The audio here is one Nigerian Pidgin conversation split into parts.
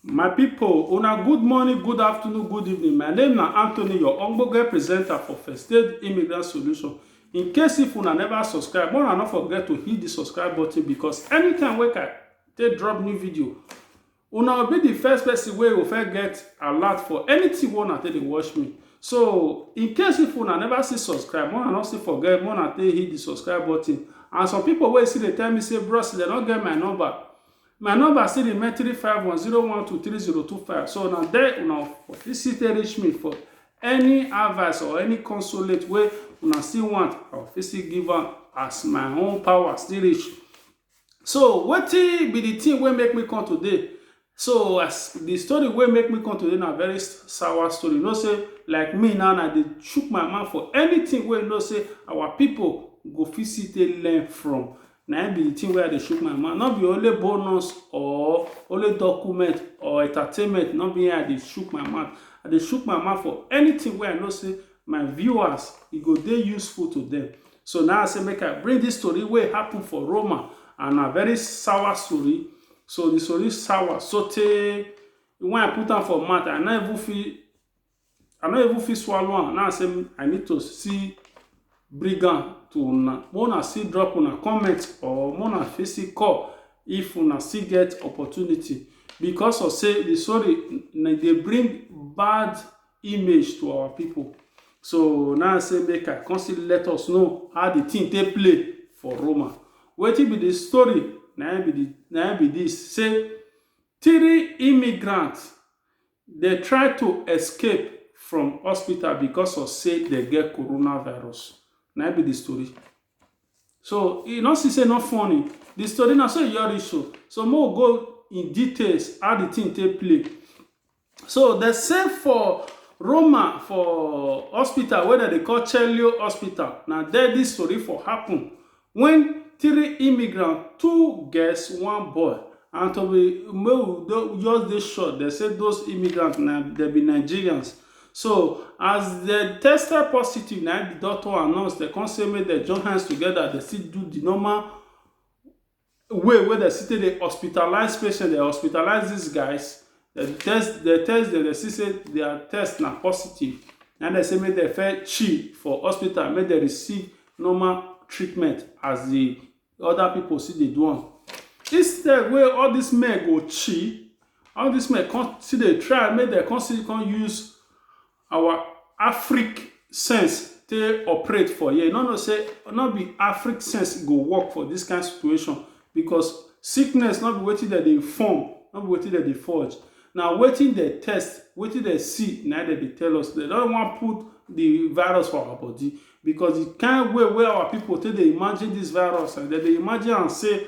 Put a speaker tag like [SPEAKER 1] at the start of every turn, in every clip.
[SPEAKER 1] My people, una good morning, good afternoon, good evening. My name na Anthony, your Ogbonge presenter for First Aid Immigrant Solution. In case if una never subscribe, make una no forget to hit the subscribe button because anytime wey I take drop new video, una will be the first person wey go first get alert for anything wey una take dey watch me. So, in case if una never see subscribe, make una no still forget, make una take hit the subscribe button. And some people wey still dey tell me say, bros, they no get my number. My number still remain three five one zero one two three zero two five. So na there una for fit still take reach me for any advice or any consolate wey una still want. I go fit still give am as my own power still reach. So wetin be the thing wey make me come today? So as the story wey make me come today na very s- sour story. You know say like me now, I dey chook my mouth for anything wey you know say our people go fit still take learn from. na im be the thing wey I dey shook my mouth. No be only bonus or only document or entertainment, no be im I dey shook my mouth. I dey shook my mouth for anything wey I know say my viewers, e go dey useful to them. So na I say make I bring this story wey happen for Roma and na very sour story. So the story sour sotey when I put am for mouth, I no even fit i no even fit swallow am now say i need to see bring am to una make una still drop una comment or make una fit still call if una still get opportunity because of say the story na dey bring bad image to our people so now say make i come still let us know how the thing take play for roma wetin be the story na im be the na im be this say three immigrants Dem try to escape from hospital because of say dem get coronavirus. Na im be the story. So, you no see say e no funny? The story na so e just reach so. So, make we go in details how the thing take play. So, dem say for Roma for hospital wey dem dey call Celio Hospital, na there this tori for happen. When three immigrant, two girls, one boy, and to be make we don just dey sure dem say those immigrants na dem be Nigerians. So as dem tested positive na im the doctor announce dem come say make dem join hands together dem still do the normal way wey dem still take dey hospitalize patient, dem hospitalize dis guys, dem test dem test dem, dem see sey dia test na positive. Na im dem say make dem first chill for hospital, make dem receive normal treatment as de other pipu still dey do am. Instead wey all dis men go chill, all dis men come still dey try make dem come still come use Our Afrik sense take operate for here. You no know say no be Afrik sense go work for this kind situation because sickness no be wetin dem dey form, no be wetin dem dey forge. Na wetin dem test, wetin dem see na im dem dey tell us. Dem no wan put the virus for our body because the kind way wey our people take dey imagine this virus, dem dey imagine am say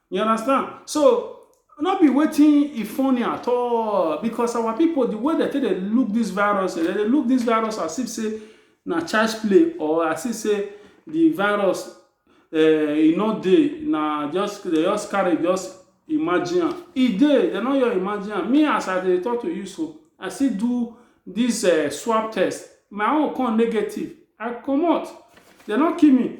[SPEAKER 1] You understand? So no be waiting e funny at all because our people the way they take dey look this virus they dey look this virus as if say na child's play or as if say the virus uh, e no dey na just they just carry just imagine am e dey they no your imagine am me as i dey talk to you so i still do this uh, swab test my own come negative i comot they no kill me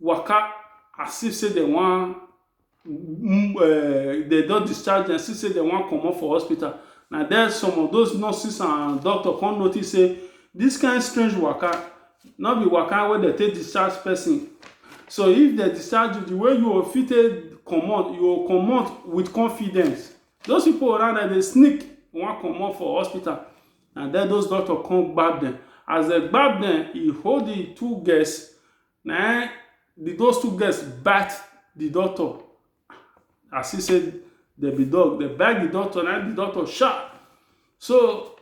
[SPEAKER 1] waka as if say dem wan um dem don discharge dem, see say dem wan comot for hospital. Na there some of those nurses and doctor come notice say this kind strange waka no be waka wey dem take discharge person. So if dem discharge you, the way you go fit take comot, you go comot with confidence. Those pipu around dem dey sneak wan comot for hospital. Na den those doctor come gbab dem. As dem gbab dem, e hold the two girls, na im the those two girls bite the doctor. I see say dem be dog. Dem bite the doctor, na im the doctor shout. So,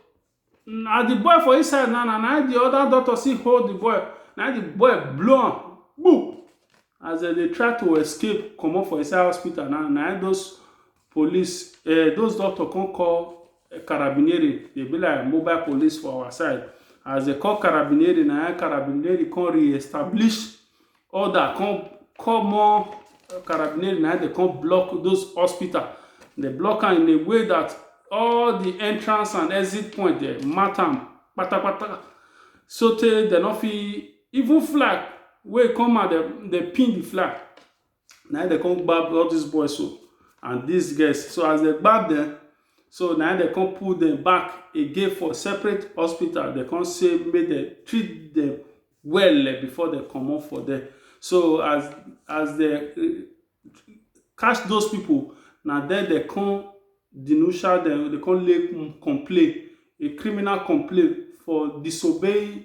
[SPEAKER 1] na the boy for inside now, na na im the other doctor still hold the boy. Na im the boy blow am kpu. As dem dey try to escape comot for inside hospital now, na im those police um those doctor come call carabinieri dey be like mobile police for our side as they call carabinieri na im carabinieri come re-establish order come call more carabinieri na im dey come block those hospital dey block am in a way that all the entrance and exit point dey mark am patapata sotey dem no fit even flag wey come out dem dey pin the flag na dem come gbab all these boys so and these girls so as dem gbab dem so na dem come pull dem back again for separate hospital dem come say make dem treat dem well eh, before dem comot for there so as as dem eh, catch those people na there dem come denuncia dem dem come lay complain a criminal complaint for disobeying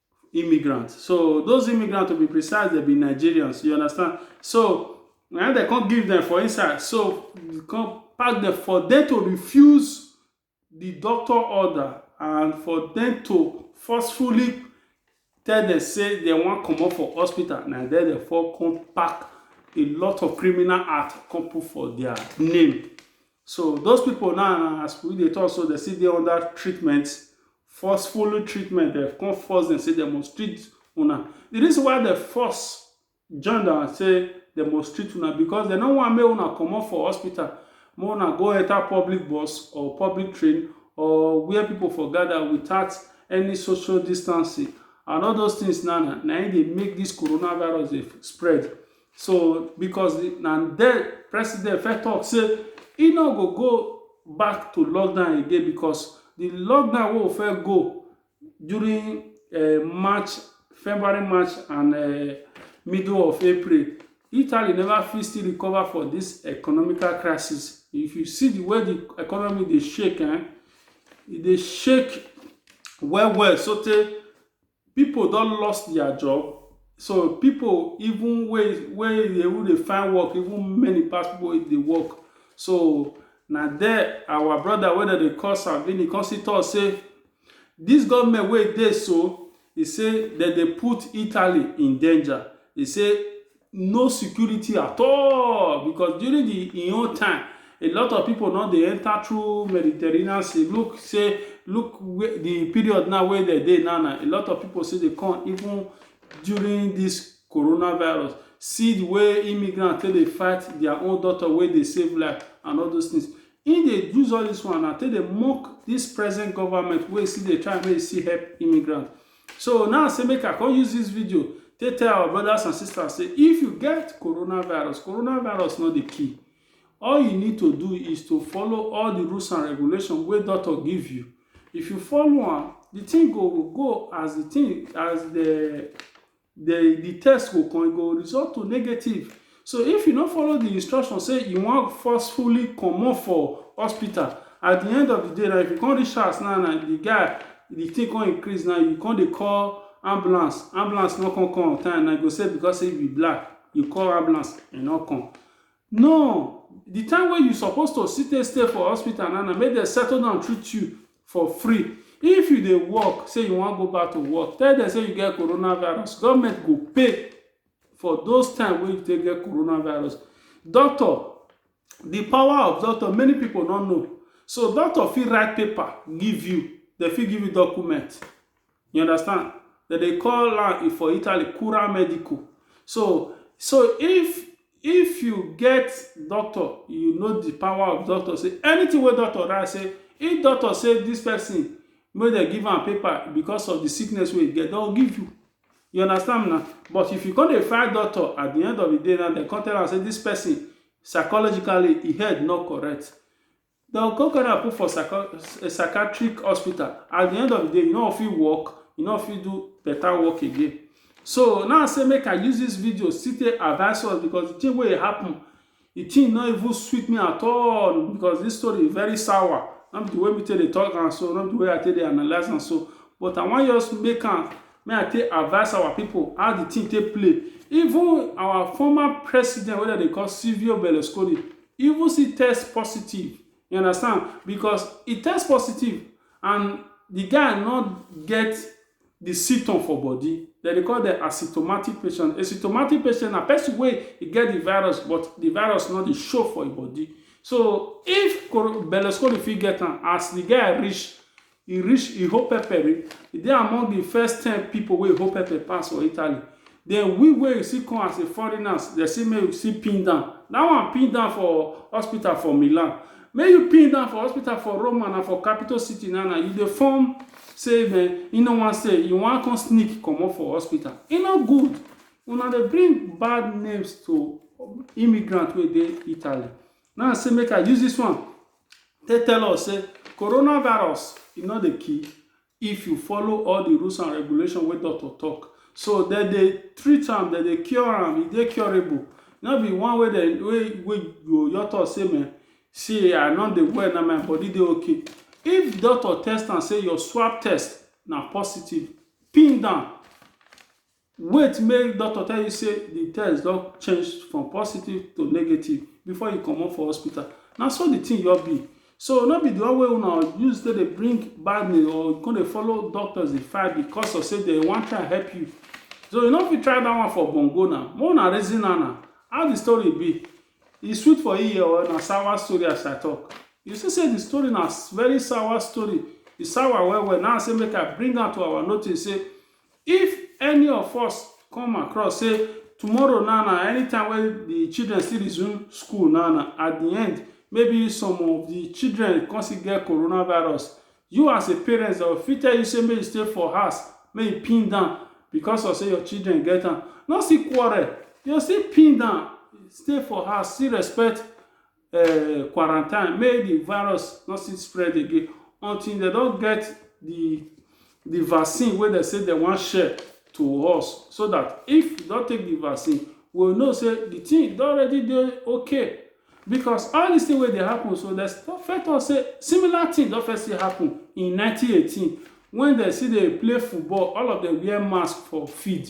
[SPEAKER 1] immigrants. So those immigrants, to be precise, they be Nigerians. You understand? So when they can't give them for inside, so you can't pack them for them to refuse the doctor order and for them to forcefully tell them say they wan comot for hospital na there dem for come pack a lot of criminal act come put for their name So those people now, as we dey talk, so they still dey under treatment, forceful treatment. They come force them say they must treat una. The reason why they force join them and say they must treat una because they no want make una comot for hospital, make una go enter public bus or public train or where people for gather without any social distancing. And all those things now, na na im dey make this coronavirus dey spread. So because na den president first talk say e no go go back to lockdown again because the lockdown wey we first go during uh, March, February, March and uh, middle of April, Italy never fit still recover for this economical crisis. If you see the way the economy dey shake, eh, e dey shake well well so tey People don lost their job so people even wey wey dey even dey find work even many pass people wey dey work so na there our brother wey dem dey call Salvini come still talk say this government wey dey so e say dem dey put Italy in danger e say no security at all because during the in own time a lot of people no dey enter through mediterranean sea look say look where the period now wey dem dey now na a lot of people still dey come even during this coronavirus see the way immigrant take dey fight their own daughter wey dey save life and all those things im dey use all this one na take dey mock this present government wey still dey try make e still help immigrant So now say make I come use this video take tell our brothers and sisters say if you get coronavirus, coronavirus not the key. All you need to do is to follow all the rules and regulations where doctor give you. If you follow am, the thing go go go as the thing as the the the test go come, e go result to negative. So if you no follow the instruction say you wan forcefully comot for hospital, at the end of the day na if you come reach house now na the guy the thing come increase now you come dey call ambulance ambulance no come come on time na you go say because say you be black you call ambulance e no come no the time wey you suppose to sit take stay for hospital now na make dem settle down treat you for free if you dey work say you wan go back to work tell dem say you get coronavirus government go pay for those time wey you take get coronavirus doctor the power of doctor many people no know so doctor fit write paper give you they fit give you document you understand that they call am for italy cura medical so so if if you get doctor you know the power of doctor say anything wey doctor write say if doctor say this person make dem give am paper because of the sickness wey e get don give you You understand me now? But if you come dey fight doctor at the end of the day now, dem come tell am say this person psychologically e head no correct. Dem come carry am put for psycho eh, psychiatric hospital. At the end of the day, you no go fit work, you no go fit do better work again. So now say make I use this video still take advise us because the thing wey happen the thing no even sweet me at all because this story very sour no be the way me take dey talk am so no be the way i take dey analyse am so but i wan just make am make i take advice our people how the thing take play even our former president wey dem dey call silvio berlusconi even still test positive you understand because he test positive and the guy no get di sytom for bodi, dem dey call dem asymptomatic patient. Asymptomatic patient na pesin wey e get di virus but di virus no dey show for im bodi. So if koro bellescoli fit get am as di guy reach, e reach e hold pepper, e dey among di first ten pipo wey e hold pepper pass for Italy. Den we wey e still come as a foreigners, dem say make we still pin down. Dat one pin down for hospital for Milan. Make you pin down for hospital for Roma na for capital city now na you dey form say men you no wan stay you wan come sneak comot for hospital e no good una dey bring bad names to immigrant wey dey Italy now say make I use this one take tell us say coronavirus e no dey kill if you follow all the rules and regulation wey doctor talk so dem dey treat am dem dey cure am e dey curable no be one wey dem wey wey go your talk say me see i no dey well na my body dey okay if doctor test am say your swab test na positive pin down Wait make doctor tell you say the test don change from positive to negative before you comot for hospital. Na so the thing just be. So no be the one wey una use take dey bring bad news or you come dey follow doctors dey fight because of say dem wan try help you. So you no fit try that one for bongo na. Make una reason am na. How the story be? E sweet for ear or na sour story as I talk? You see say the story na very sour story. E sour well well. Na im I say make I bring am to our notice say If any of us come across say tomorrow now na anytime wey the children still resume school now na at the end maybe some of the children come still get coronavirus you as a parent dem fit tell you say make you stay for house make you pin down because of say your children get am no still quarrel you go still pin down stay for house still respect uh, quarantine make the virus no still spread again until they don get the the vaccine wey dem say dem wan share to us so that if you don take the vaccine we we'll know say the thing don already dey okay because all this thing wey dey happen so dem first talk say similar thing don first still happen in 1918 when dem still dey play football all of them wear mask for field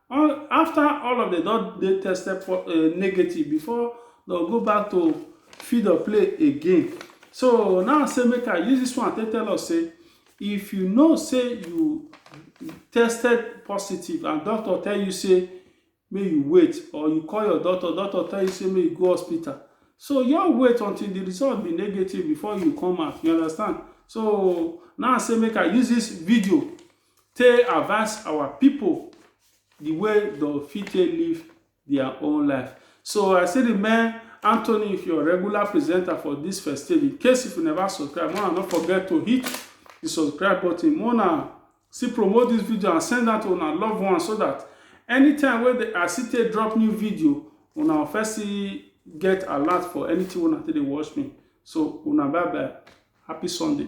[SPEAKER 1] All, after all of them don dey tested for uh, negative before they'll go back to feed or play again. So now say make I use this one to tell us say if you know say you tested positive and doctor tell you say may you wait or you call your doctor, doctor tell you say may you go hospital. So your wait until the result be negative before you come out. You understand? So now say make I use this video Tey advice our pipo di way dem fit take live dia own life. So I still remain Anthony with your regular presenter for dis festive. In case if you never subscribe, make una no forget to hit di subscribe button. Make una still promote dis video and send am to una loved ones so dat anytime wey dey I still take drop new video, una go first see get alert for anything wey una take dey watch me. So una bye bye, happy Sunday.